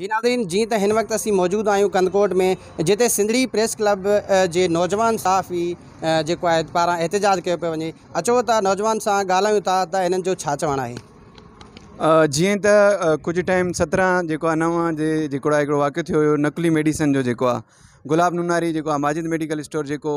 جي ناظرين جيئن ته هن وقت اسين موجود آهيون ڪنڌڪوٽ ۾ جتي سنڌڙي پريس ڪلب جي نوجوان صحافي جيڪو آهي پاران احتجاج ڪيو پيو وڃي اچو ته نوجوان سان ڳالهايون ٿا ته هنن جو ڇا چوڻ آهي. جيئن ته ڪجهه ٽائيم سترهن جيڪو آهي نو جي جيڪڙا هڪڙو واقعو ٿيو هيو نقلي ميڊيسن جو جيڪو آهي گلاب نوناري جيڪو آهي ماجد ميڊيڪل اسٽور جيڪو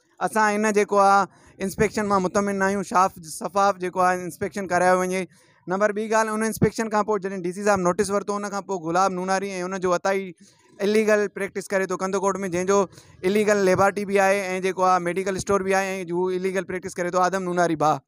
اسان ھن جيڪو آ انسپيڪشن مان مطمئن نا آھيون شاف شفاف جيڪو آ انسپيڪشن ڪرايو وڃي نمبر ٻي ڳالھ ان انسپيڪشن کان پوء جڏھن ڊي سي صاحب نوٽيس ورتو ان کان پوء گلاب نوناري ۽ ان جو عطائي اليگل پريڪٽس ڪري ٿو ڪنڌڪوٽ ۾ جنھن جو اليگل ليبارٽي بي آھي ۽ جيڪو آ ميڊيڪل اسٽور بي آھي ۽ ھو اليگل پريڪٽس ڪري ٿو آدم نوناري باه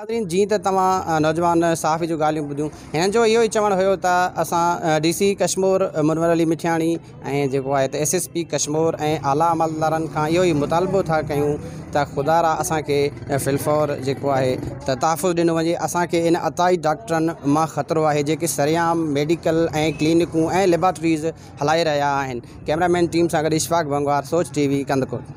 ناظرين جيئن ته توهان نوجوان صحافي جون ڳالهيون ٻڌيون هنن جو اهو ئي چوڻ هيو ته اسان ڊي سي ڪشمور منور علي مٺياڻي ۽ جيڪو آهي ته ايس ايس پي ڪشمور ۽ اعليٰ عملدارن کان اهو ئي مطالبو ٿا ڪيون ته خدا را اسان کي في الفور جيڪو آهي ته تحفظ ڏنو وڃي اسان کي ان عطائي ڊاڪٽرن مان خطرو آهي جيڪي سرعام ميڊيڪل ۽ ڪلينڪون ۽ ليبارٽريز هلائي رهيا آهن ڪئميرا مين ٽيم سان گڏ اشفاق ڀنگوار سوچ ٽي وي ڪنڌڪوٽ